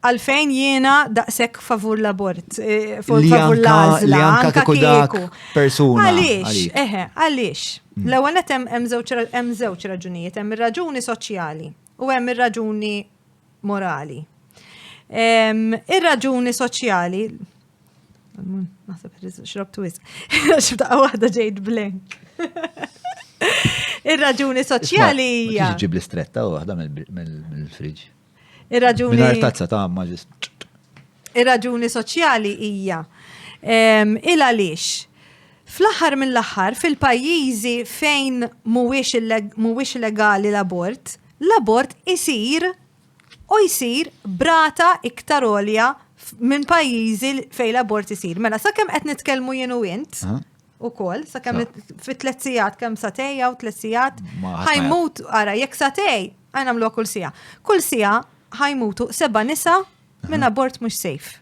Għalfejn jiena daqshekk favur l-abort, eh, favur Li favur anka- l-għażla, li anka anka kieku dak kieku. persuna Għaliex, għalik. Mm. eħe, għaliex. L-ewwel net hemm hemm żewġ ra- hemm żewġ raġunijiet, hemm ir-raġuni soċjali u hemm ir-raġuni morali. Em, Ir-raġuni soċjali Naħseb irriz- xrobt wis. Xibta waħda ġejt blank. Ir-raġuni soċjali hija. Tiġi ġib l-istretta u waħda mill- mill- mill-friġ. Ir-raġuni. Mingħajr tazza ta' għamma ġist. Ir-raġuni soċjali hija il għaliex fl-aħħar mill-aħħar fil-pajjiżi fejn mhuwiex legali l-abort, l-abort isir u jsir brata iktar olja minn pajjiżi fejn l-abort isir. Mela sakemm qed nitkellmu jien u int, u kol, sa' kem fit tlet sijat, kem sa' tej, u tlet sijat, ħajmut, għara, jek sa' tej, għajna mlu kull sija. Kull sija ħajmutu seba nisa minn abort mux safe.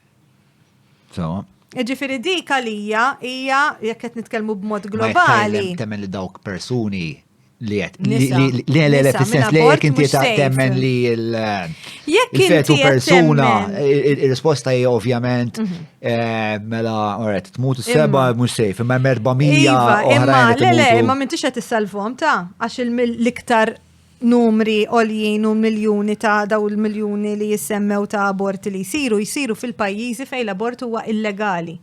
Sawa. Ġifiri dik għalija hija jekk qed nitkellmu b'mod globali. Temmen li dawk persuni Li għet, li għet, li sens li għet inti ta' temmen li il-fetu persuna, il-risposta hija ovvjament, mhm. eh, mela, għet, tmut s-seba mux sejf, imma merba mija. Imma, le, le, imma minn tixet s-salvom ta' għax il-liktar numri oljien u miljoni ta' daw il-miljoni li jissemmew ta' aborti li jisiru, jisiru fil-pajjiżi fej l-abort huwa illegali.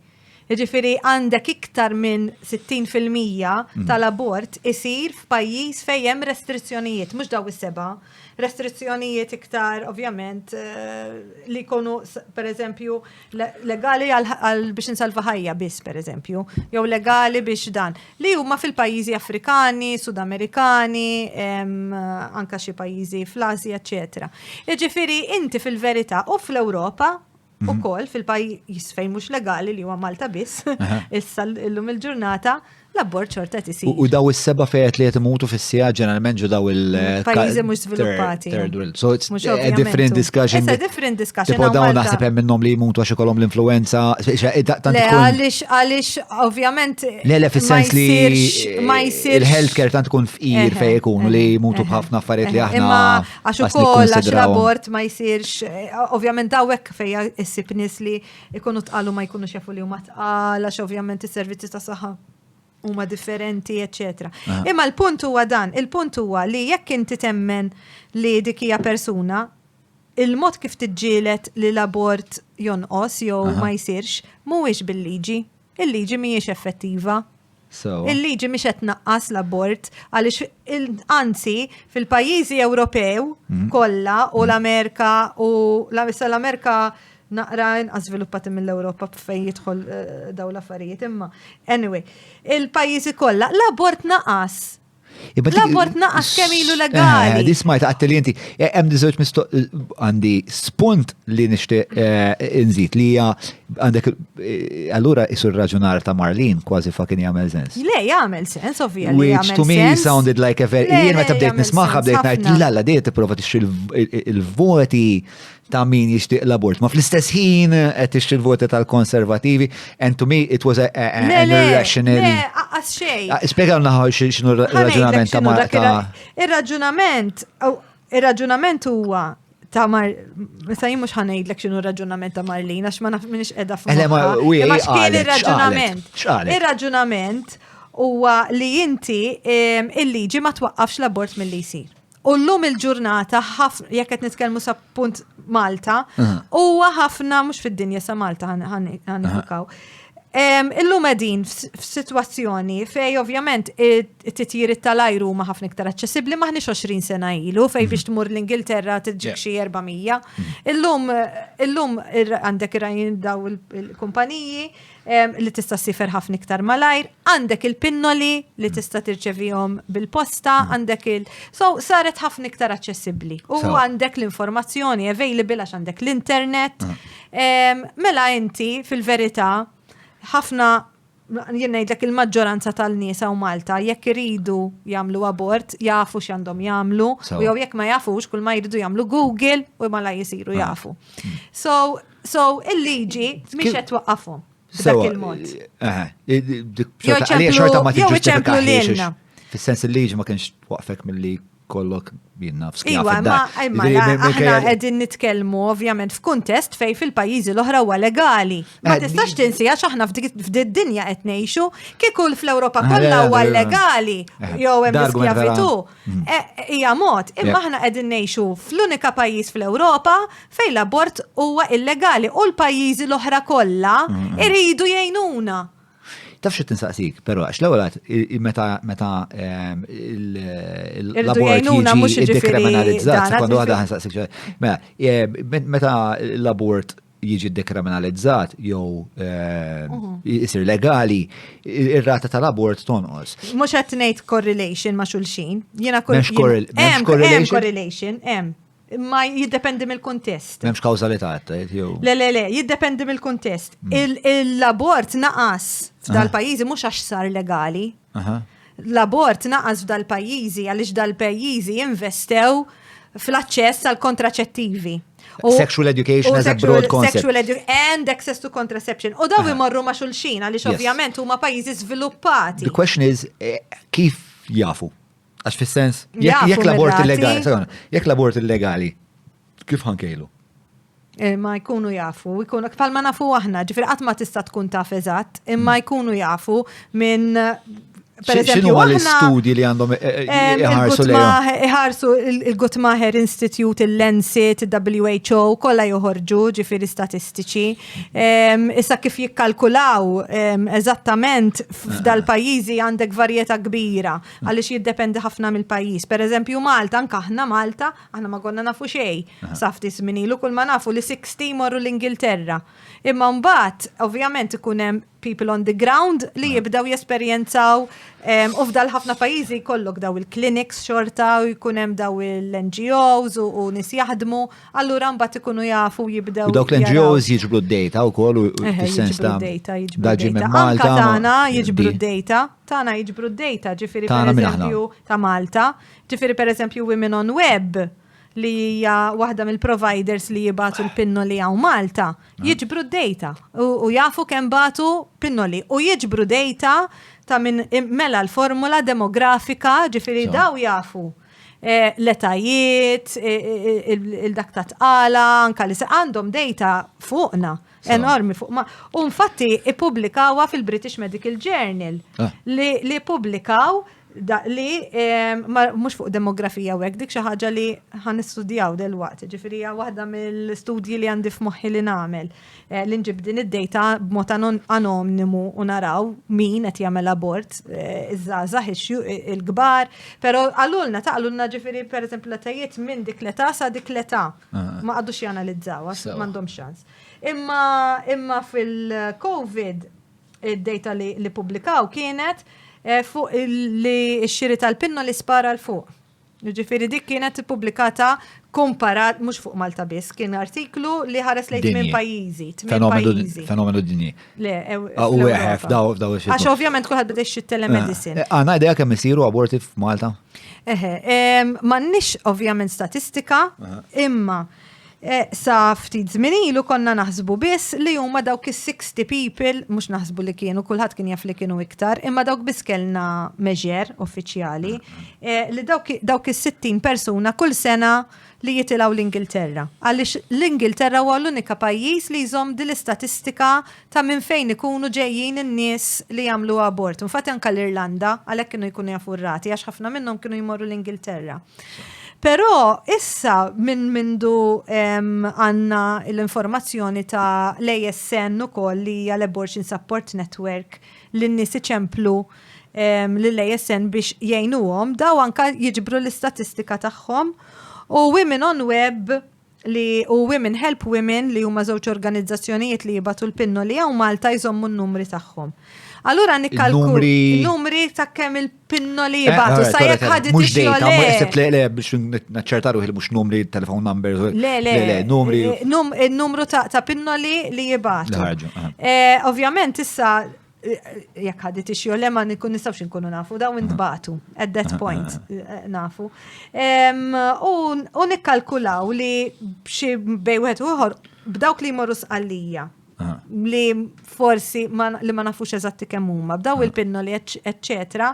Jiġifieri għandek iktar minn 60 fil-mija mm. tal-abort isir f'pajjiż fejn hemm restrizzjonijiet, mhux daw is-seba', restrizzjonijiet iktar ovvjament eh, li jkunu pereżempju legali għal biex insalva ħajja biss pereżempju, jew legali biex dan li huma fil-pajjiżi Afrikani, Sudamerikani, anka xi pajjiżi fl-Asja, eċetera. Jiġifieri inti fil-verità u fl-Ewropa mhm. ukoll fil-pajjiż fejn mhux legali li huwa Malta biss, issa llum il-ġurnata l-abbord xorta tisir. U daw is-seba' fejet li qed imutu fis-sija ġeneralment ġu daw il- mm, pajjiżi mhux żviluppati. So it's a different discussion. It's a different discussion. Tipo dawn naħseb hemm minnhom li jmutu għax ikollhom l-influenza. Le għaliex għaliex ovvjament. Le le fis-sens li il-healthcare tant tkun fqir fejn ikunu li jmutu b'ħafna affarijiet li aħna. Għax ukoll għax l-abort ma jsirx, eh, ovvjament dawek fejja issib nies li jkunu tqalu ma jkunux jafu li huma tqal, għax ovvjament is-servizzi ta' saħħa huma differenti, eċetera. Ah. Imma l-punt huwa dan, il-punt huwa li jekk inti temmen li dik hija persuna, il-mod kif tiġġielet li l-abort jonqos jew ma jsirx mhuwiex bil-liġi. Il-liġi mhijiex effettiva. Il-liġi mhix qed tnaqqas l-abort għaliex anzi fil-pajjiżi Ewropew mhm. kollha u mhm. l-Amerika u l-Amerika naqra inqas żviluppati mill-Ewropa fejn jidħol eh, daw l-affarijiet imma. Anyway, il-pajjiżi kollha l-abort naqas L-abort naqas kemm ilu eh, legali. Di smajt għatti li inti, eh, hemm diżewġ mistoq eh, għandi spunt li nixtieq inżid li hija għandek allura isur raġunar ta' Marlin kważi fakin jagħmel sens. Le, jagħmel sens, ovvija li jagħmel sens. Which to me sounded like a very jien meta bdejt nismaħħa bdejt ngħid la la dejt tipprova tixtri il-voti ta' min jixtieq l-abort. Ma fl-istess ħin qed tixtri l-voti tal-konservativi, and to me it was a, a, a, an irrational. Le, aqqas xejn. Ah, Spjega naħa xinu raġunament ta' mar ta' Ir-raġunament, ir-raġunament huwa ta' mar, sa' jien mhux ħanejdlek x'inhu raġunament ta' Marlin għax ma naf minix qiegħda fuq. Eh, ma x'kien ir-raġunament. Ir-raġunament huwa li inti il-liġi ma twaqqafx l-abort mill-li jsir. U llum il-ġurnata ħafna jekk qed nitkellmu sa punt Malta, huwa ħafna mhux fid-dinja sa Malta ħanifikaw. Illum qegħdin f'sitwazzjoni fej ovvjament it-titjiriet tal-ajru huma ħafna iktar aċċessibbli maħniex 20 sena ilu fej biex tmur l-Ingilterra tiġġik xi 400. Illum illum għandek irajn daw il-kumpaniji li tista' sifer ħafna iktar malajr, għandek il-pinnoli li tista' tirċevihom bil-posta, mm. għandek il- so saret ħafna iktar aċċessibbli. U għandek l-informazzjoni available għax għandek l-internet. Mm. Mela inti fil-verità ħafna jien ngħidlek il-maġġoranza tal-nies u Malta jekk iridu jagħmlu abort jafu x'għandhom jagħmlu u jew jekk ma jafux kull ma jridu jagħmlu Google u mala jisiru ah. jafu. Mm. So So, il-liġi mhix qed twaqqafhom b'dak il-mod. Jew ċemplu lilna. Fis-sens il-liġi ma kienx waqfek milli kollok binna f'skija. Iwa, ma aħna qegħdin nitkellmu ovvjament f'kuntest fej fil-pajjiżi l-oħra huwa legali. Ma eh, tistax tinsi għax aħna f'did dinja qed ngħixu kieku fl-Ewropa eh, kollha huwa eh, legali jew hemm skjavitu. Eh, hija mod, imma aħna qegħdin ngħixu fl-unika pajjiż fl-Ewropa fejn l-abort huwa illegali u l-pajjiżi l-oħra kollha mm-hmm. iridu jgħinuna. Taf xi tinsaqsik, però għax l-ewwel għad meta meta ehm, l-abort jiġi dekriminalizzat, sekonda waħda ħansaqsik. Mela, eh, meta l-abort jiġi dekriminalizzat jew jisir legali, ir-rata tal-abort tonqos. Mhux qed ngħid correlation ma' xulxin. Jiena correlation. Hemm correlation, hemm. Ma jiddependi mill-kuntest. M'hemmx kawżalità tajt jew. Le le le, jiddependi mill-kuntest. Mm. L-abort naqas f'dal-pajjiżi ah. mhux għax sar legali. L-abort naqas f'dal-pajjiżi għaliex dal-pajjiżi jinvestew fl-aċċess għal kontraċettivi. Sexual education as a broad concept. Sexual education and access to contraception. U daw imorru ma' xulxin għaliex ovvjament huma pajjiżi żviluppati. The question is eh, kif jafu? Għax fis-sens jekk l-abort illegali, jekk l-abort illegali Kif ħankejlu? Eh, ma jkunu jafu, jkunu kfal ma nafu aħna, ġifir qatt ma tista' tkun taf eżatt, imma hmm. jkunu jafu minn Xinu għal studji li għandhom eh, eh, iħarsu li Iħarsu il-Gutmaher Institute, il-Lancet, il-WHO, kolla joħorġu ġifiri statistiċi. Issa kif jikkalkulaw eżattament f'dal pajizi għandek varjeta kbira, għalix jiddependi ħafna mill-pajiz. Per eżempju Malta, anka ħna Malta, Aħna ma konna nafu xej, safti sminilu, kull ma nafu li 60 morru l-Ingilterra. Imma mbagħad, ovvjament, ikun hemm people on the ground li jibdaw jesperjenzaw ehm, u f'dal ħafna pajjiżi jkollok daw il-clinics xorta u jkun hemm daw il-NGOs u nis jaħdmu, allura mbagħad ikunu jafu jibdew. Dawk l-NGOs jiġbru d-data wkoll u fis-sens ta' data jiġbru d-data. Malta. Jiġbru d-data. tagħna jiġbru d-data, ġifieri Tagħna minn aħna. pereżempju ta' Malta, ġifieri pereżempju Women on Web li hija waħda mill-providers li jibatu l-pinnoli hawn Malta, jiġbru d-data u, u jafu kemm batu pinnoli u jiġbru data ta' minn im- mela l-formula demografika, ġifieri Sew. daw jafu eh, l-etajiet, eh, eh, il- il-dak ta' tqala, anka li se għandhom data fuqna. Enormi fuq ma. U infatti ippubblikawa fil-British Medical Journal ah. li publikaw li mhux fuq demografija u hekk dik xi ħaġa li ħan nistudjaw delwaqt, ġifieri hija waħda mill-studji li għandi f'moħħi li nagħmel eh, li nġib din id-dejta b'mod anonnimu u naraw min qed jagħmel abort eh, iż-żgħażagħ il-kbar, però għalulna taqlulna ġifieri pereżempju l-etajiet minn dik l-età sa dik l-età. Ma għadux janalizzawa, mandom xans. Imma, imma fil-Covid, id-data li, li publikaw kienet eh, fuq li xiri tal-pinno li spara l-fuq. Ġifiri dik kienet publikata komparat, mux fuq Malta biss, kien artiklu li ħares lejn minn pajizi, tmien pajizi. Fenomenu dinji. Le, u eħef, daw, daw xie. Għax ovvjament kuħad bdex xie telemedicine. Għana ideja kemm isiru aborti f'Malta? Eħe, mannix ovvjament statistika, imma e, sa ftit zminilu konna naħsbu biss li huma dawk is-60 people, mhux naħsbu li kienu, kulħadd kien jaf li kienu iktar, imma dawk biss kellna meġer uffiċjali, e, li dawk is-60 persuna kull sena li jitilgħu l-Ingilterra, għaliex l-Ingilterra huwa l-unika pajjiż li jżomm din l-istatistika ta' minn fejn ikunu ġejjin in-nies li jagħmlu abort. Infatti anke l-Irlanda għalhekk kienu jkunu jafu r-rati għax ħafna minnhom kienu jmorru l-Ingilterra. Però issa minn mindu għandna l-informazzjoni ta' l-ASN ukoll li hija l-Abortion Support Network li n-nies iċemplu lill-ASN biex jgħinuhom, daw anka jiġbru l-istatistika tagħhom u Women on Web li u Women Help Women li huma żewġ organizzazzjonijiet li jibatu l-pinno li hawn Malta jżommu n-numri tagħhom. Allura nikkalku numri ta' kemm il-pinno li jibatu sa jekk ħadit mhux dejta, mhux le le biex naċċerta ruħi mhux numri telefon number. Le le le numri. Numru ta' pinno li jibatu. Ovvjament issa jekk ħadit ix jew ma nikun nistgħux inkunu nafu daw intbatu at that point eh, nafu. U nikkalkulaw li b'xi bej wieħed ieħor b'dawk li jmorru sqallija li forsi li ma nafux eżatti kemm huma b'daw il-pinnoli eċċetera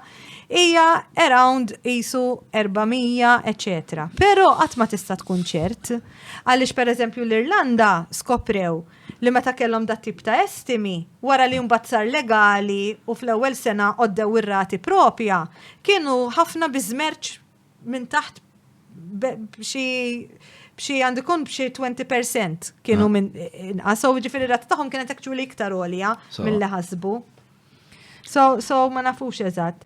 hija around isu 400 eċċetera. Però qatt ma tista' tkun ċert għaliex pereżempju l-Irlanda skoprew li meta kellhom dat-tip ta' estimi, wara li mbagħad sar legali u fl-ewwel sena għoddew ir-rati proprja, kienu ħafna bi żmerċ minn taħt b'xi b'xi għandu jkun b'xi 20% kienu minn inqas, so ġifieri r-rata tagħhom kienet actually iktar għolja milli ħasbu. So, so ma nafux eżatt.